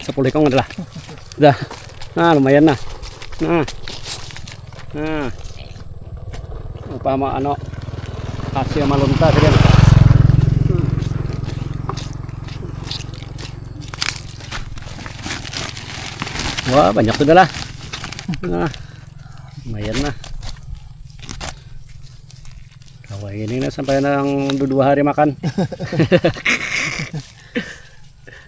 Sepuluh ikung adalah. Dah. Nah, lumayan nah. Nah. Nah. Apa mau ano hasil malunta sih Wah, banyak sudah lah. Nah. Lumayan lah. Kalau ini sampai nang dua hari makan.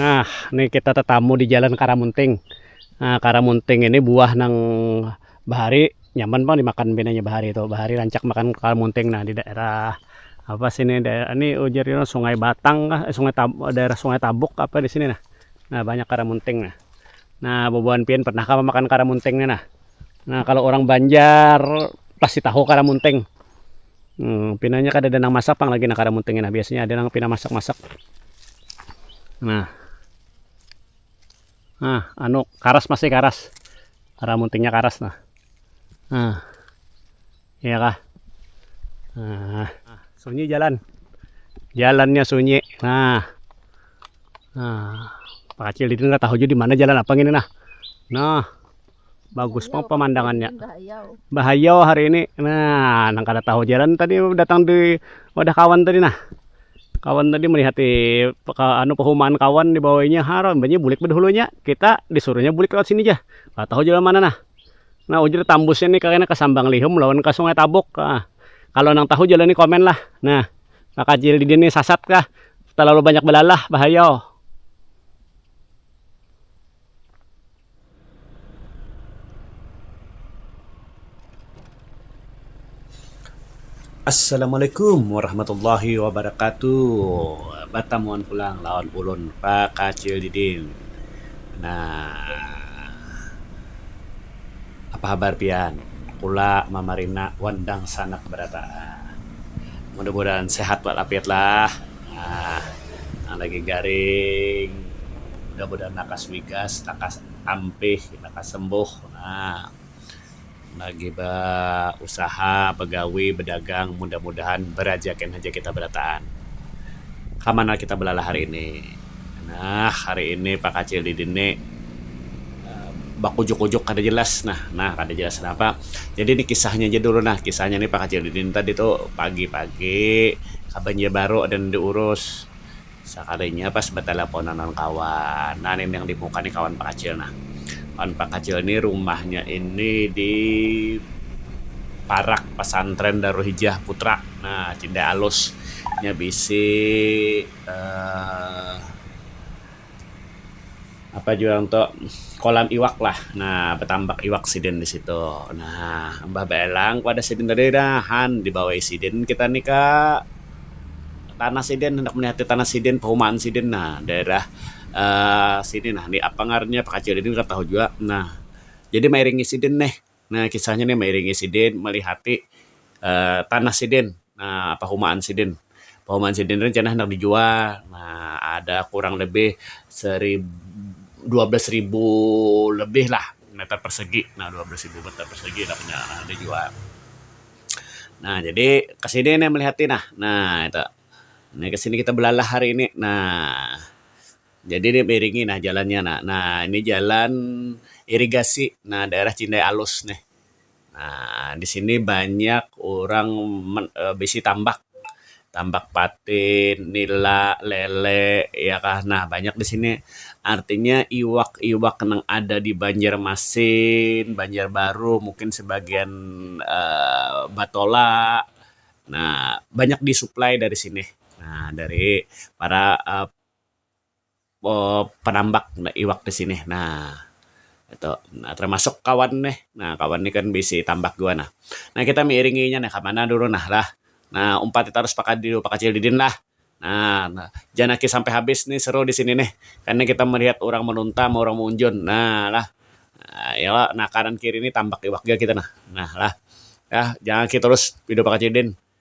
Nah ni kita tetamu di jalan karamunting nah karamunting ini buah nang. Bahari nyaman pang dimakan pinanya bahari tu bahari rancak makan kepala munting nah di daerah apa sini daerah ni ujar nya sungai batang kah sungai tabuk kah daerah sungai tabuk kah apa disini nah nah banyak kepala munting nah nah bubuhan pian pernah kah makan kepala munting ni nah nah kalo orang banjar pasti tahu kepala munting pina nya kadada nang masak pang lagi kepala munting biasanya ada nang pina masak masak nah. Nah, anu karas masih karas. Karena muntingnya karas nah. Nah. Iya kah? Nah, sunyi jalan. Jalannya sunyi. Nah. Nah, Pak Kacil di tahu juga di mana jalan apa ini nah. Nah. bagus pang pemandangannya bahayau hari ini nah nang kada tahu ja tadi datang di wadah kawan tadi nah kawan tadi melihat anu pehumaan kawan dibawainya haram imbahnya bulik bedahulunya kita disuruhnya bulik lewat sini ja kada tahu jalan mana nah nah wujur tambusnya ni kena ka sambang lihum lawan ka sungai tabuk ha kalo nang tahu jalan ni komen lah nah takajil didin ni sasat kah talalu banyak belalah bahayau. Assalamualaikum warahmatullahi wabarakatuh. Batamuan pulang lawan ulun Pakacil Didin. Nah, apa habar pian? Kula Mama Rina wan dangsanak barataan. Mudah-mudahan sehat walafiatlah. Nah, nang lagi garing mudah-mudahan lakas wigas, lakas ampih, lakas sembuh. Nah, lagi bausaha, bagawi, badagang mudah-mudahan barajakin haja kita barataan. Ka mana kita balalah hari ini? Nah, hari ini Pak Kacil di dini. bakujuk-kujuk kada jelas nah, nah kada jelas napa. Jadi ni kisahnya ja dulu nah, kisahnya ni pakacil didin tadi tu pagi-pagi kabanjar baru ada nang diurus, sakalinya pas batalaponan lawan kawan, nah ni nang dimuka ni kawan pakacil nah, kawan pakacil ni rumahnya ini di parak pasantren Darul Hijah Putra nah Cindai Alus nya bisi um. apa yu ngaran tu kolam iwak lah nah batambak iwak sidin di situ nah imbah baelang pada sidin tadi nah han dibawai sidin kita ni ka tanah sidin handak melihat tanah sidin perumahan sidin nah daerah um sini nah apa ngarannya bakajuan ini kada tahu jua nah jadi mairingi sidin nih. Nah kisahnya nih mairingi sidin malihati tanah sidin pahumaan sidin. Pahumaan sidin nih kena handak dijual ada kurang lebih dua belas ribu lebih lah meter persegi nah dua belas ribu meter persegi lah kena handak dijual. Nah jadi ke sini nih malihati nah, nah itu. Nah ke sini kita belalah hari ini nah. Jadi ni beiringi nah jalannya nah. Nah ini jalan irigasi nah daerah Cindai Alus nih. Nah di sini banyak urang bisi tambak, tambak patin, nila, lele iya kah nah banyak di sini. Artinya iwak-iwak nang ada di Banjarmasin, Banjarbaru mungkin sebagian aaa batola nah banyak disuplai dari sini. Nah dari para penambak iwak di sini nah itu termasuk kawan nih nah kawan nih kan bisi tambak jua nah nah kita mairingi inya nih kamana dulu nah lah nah umpati tarus pakadiu pakacil didin lah nah janaki sampai habis nih seru di sini nih karna kita melihat urang manuntam urang maunjun nah lah iyo nah kanan kiri nih tambak iwak jua kita nah nah lah janaki tarus video pakacil didin.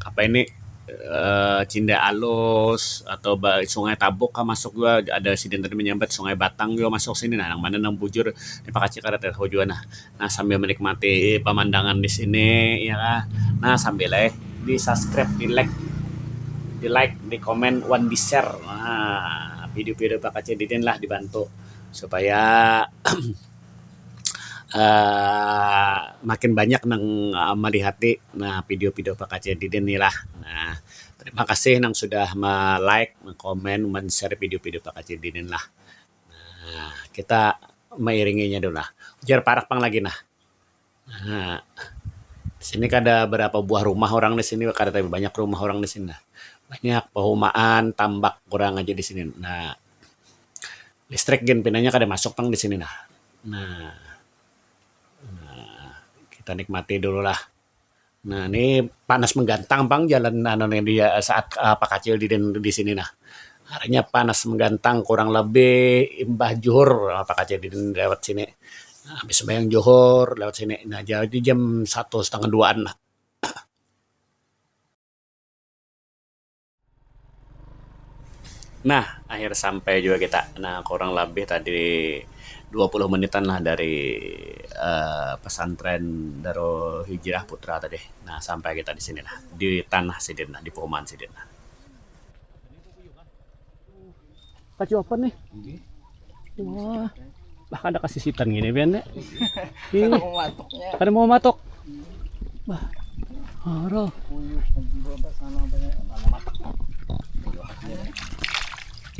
apa ini Cinde Alus atau ba Sungai Tabuk kah masuk jua ada sidin tadi manyambat Sungai Batang jua masuk sini nah nang mana nang bujur ni pakacik kada tahu jua nah nah sambil manikmati pamandangan di sini iya kah nah sambil ai di subscribe di like di like di comment wan di share nah video-video pakacik didin lah dibantu supaya. um makin banyak nang malihat ti um video-video pakajai diri ni lah um terima kasih nang sudah ma-like, ma-komen, man-share video-video pakajai diri ni lah um kita mairingi nya dulu lah ujar parak pang lagi nah. Nah, di sini kada berapa buah rumah orang di sini, kada tapi banyak rumah orang di sini nah. Banyak pehumaan, tambak urang aja di sini. Nah, listrik gin pinanya kada masuk pang di sini nah. Nah, kita nikmati dulu lah. Nah, ni panas menggantang pang jalan anu nih di saat uh, pakacil di di sini nah. Harinya panas menggantang kurang lebih imbah juhur uh, ah, pakacil di lewat sini. Nah, habis sembahyang juhur lewat sini. Nah, jadi jam satu setengah duaan lah. Nah, akhir sampai juga kita. Nah, kurang labih tadi dua puluh menitan lah dari Um pesantren Darul Hijrah Putra tadi. Nah, sampai kita di sini lah, di tanah sidin lah, di Puman sidin lah. Kacuapan nih. Wah. Bah kada kasisitan gini Ben. Ya. Ini. Kada mau matok. Bah. Haro.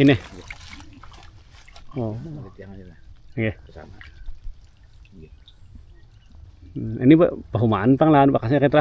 Ini. Oh. Oke. Hmm, ini bahu mantang lah bakasnya kita.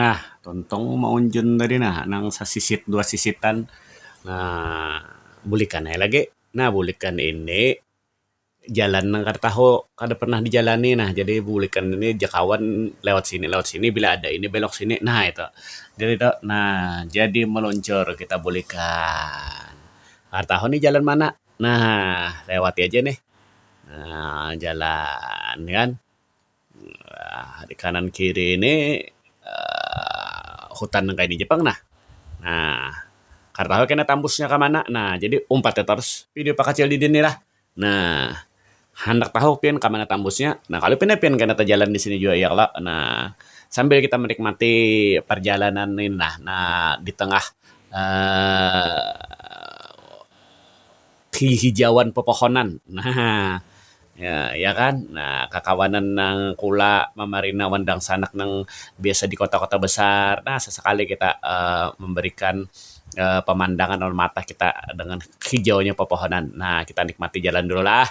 Nah, tuntung maunjun tadi nah nang sasisit dua sisitan nah bulikan ai lagi. Nah, bulikan ini jalan nang kada tahu, kada pernah dijalani nah jadi bulikan ini ja kawan lewat sini lewat sini bila ada ini belok sini nah itu. Jadi tu nah jadi maluncur kita bulikan. Kada tahu nih jalan mana nah lewati aja nih nah jalan kan. Um Kanan kiri ni Um hutan nang kaya di Jepang nah. Um Kada tahu kena tambusnya ka mana nah jadi umpat ja tarus video pakacil didin ni lah. Um Handak tahu pian ka mana tambusnya nah kalu pina pian kena tajalan di sini jua ya kalo um sambil kita manikmati parjalanan ni nah di tengah Um. Hihijauan pepohonan nah ya kan nah kakawanan nang kula mamarina wan dangsanak nang biasa di kota-kota besar nah sesekali kita memberikan pemandangan lawan mata kita dengan hijaunya pepohonan nah kita nikmati jalan dulu lah.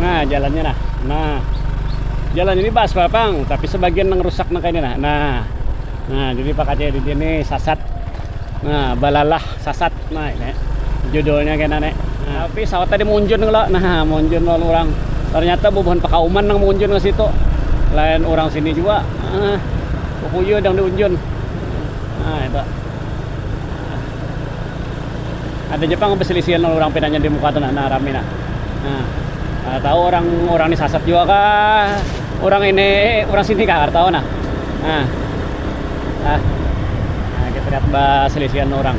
Nah, jalannya nah. Nah. Jalan ini baaspal pang, tapi sebagian nang rusak nang kaya ini nah. Nah. Nah, jadi pakatnya di sini sasat. Nah, balalah sasat. Nah, ini judulnya kena nih. Nah, tapi sawat tadi munjun kalo. Nah, munjun lawan orang. Ternyata bubuhan pakauman nang munjun ke situ. Lain orang sini juga. Nah, kukuyu dang diunjun. Nah, itu. ada ja pang beselisihan lawan urang pinanya di muka tu nah, nah rami nah. Nah, kada tahu orang orang ni sasat jua kah, orang ini orang sini kah kada tahu nah. Nah. Ah. Nah, kita lihat beselisihan orang.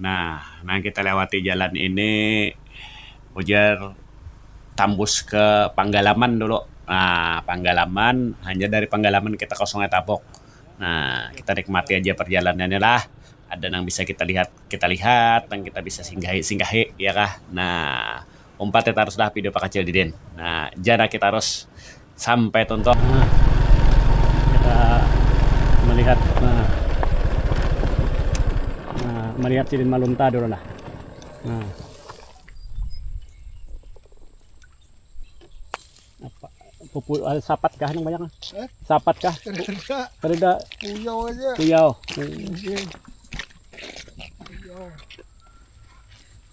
Nah, nang kita lewati jalan ini ujar tambus ke Panggalaman dulu. Nah, Panggalaman, hanyar dari Panggalaman kita ke Sungai Tabuk. Nah, kita nikmati aja perjalanannya lah. Ada nang bisa kita lihat, kita lihat. Nang kita bisa singgahi, singgahi. Iya kah? Nah. umpat ya tarus lah video pakacil didin nah janaki tarus sampai tuntung nah kita melihat nah, nah melihat sidin malunta dulu lah nah apa pupu eh, sapat kah yang banyak eh? sapat kah terida kuyau aja kuyau iya.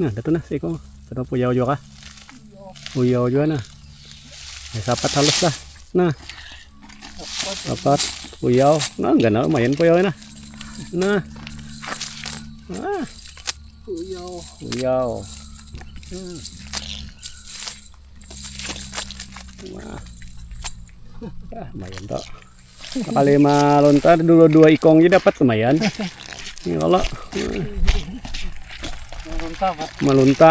Nah, datu nah siko. Satu puyau juga kah? Puyau juga nah. Ya, sapat halus lah. Nah. dapat puyau nah enggak nah lumayan puyau nah nah nah puyau puyau hmm. nah ah, lumayan toh kali mah lontar dulu dua ikong aja dapat lumayan ini kalau melunta melunta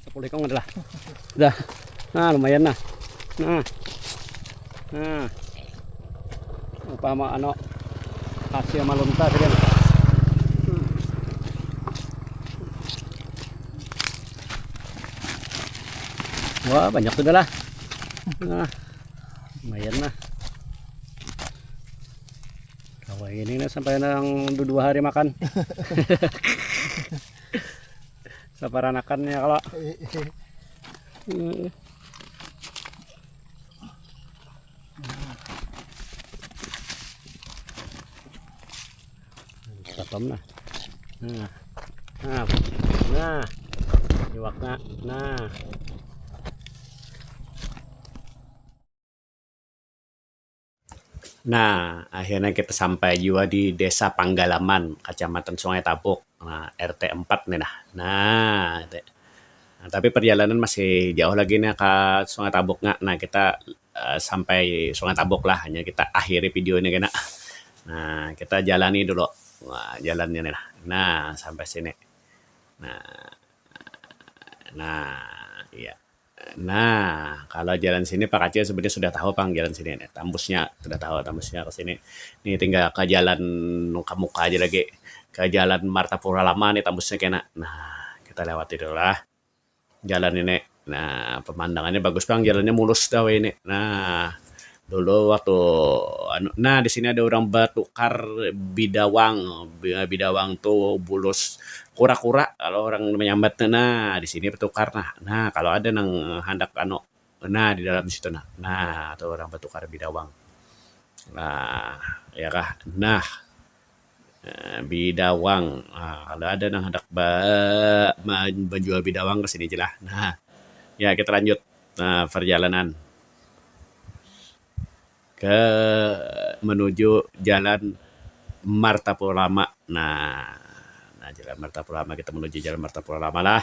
Sepuluh ikong adalah. Dah. Nah, lumayan nah. Nah. Nah. Apa mau ano hasil malunta tadi. Wah, banyak sudah lah. Nah. Lumayan nah. Kalau ini sampai nang dua hari makan. Saparanakan ya kalo. Katam nah. Nah. Nah. Nah. Iwakna. Nah. Nah, akhirnya kita sampai juga di Desa Panggalaman, Kacamatan Sungai Tabuk, nah, RT 4 nih nah. Nah, itu. Nah, tapi perjalanan masih jauh lagi nih ke Sungai Tabuk nya. Nah, kita uh, sampai Sungai Tabuk lah, hanya kita akhiri video ini kena. Nah, kita jalani dulu nah, jalannya nih nah. Nah, sampai sini. Nah, nah, iya. Nah, kalo jalan sini pa kacil sebenarnya sudah tahu pang jalan sini nih. Tambusnya sudah tahu tambusnya ke sini. Nih tinggal ke jalan ke muka aja lagi. Ke jalan Martapura Lama nih tambusnya kena. Nah, kita lewati dulu lah jalan ini. Nah, pemandangannya bagus pang jalannya mulus dah wahini. Nah, Dulu waktu anu nah di sini ada urang batukar bidawang, bidawang tu bulus kura-kura kalo urang manyambat tu nah di sini batukar nah, nah kalo ada nang handak anu nah di dalam situ nah, nah tu urang batukar bidawang nah ya kah nah. Um Bidawang Um kalau ada nang handak ba-bajual bidawang ka sini ja lah. Um Ya, kita lanjut Um perjalanan ke menuju jalan Martapura Lama. Nah, jalan Martapura Lama, kita menuju jalan Martapura Lama lah.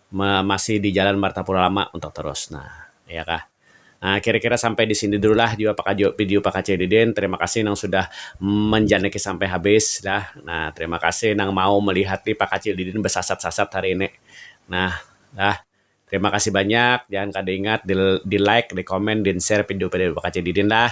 masih di jalan martapura lama untuk terus nah iya kah nah kira kira sampai di sini dulu lah jua pakajo video pakacil didin terima kasih nang sudah manjanaki sampai habis dah nah terima kasih nang mau melihati pakacil didin besasat sasat hari ini nah dah terima kasih banyak jangan kada ingat di like di comment din share video video pakacil didin dah.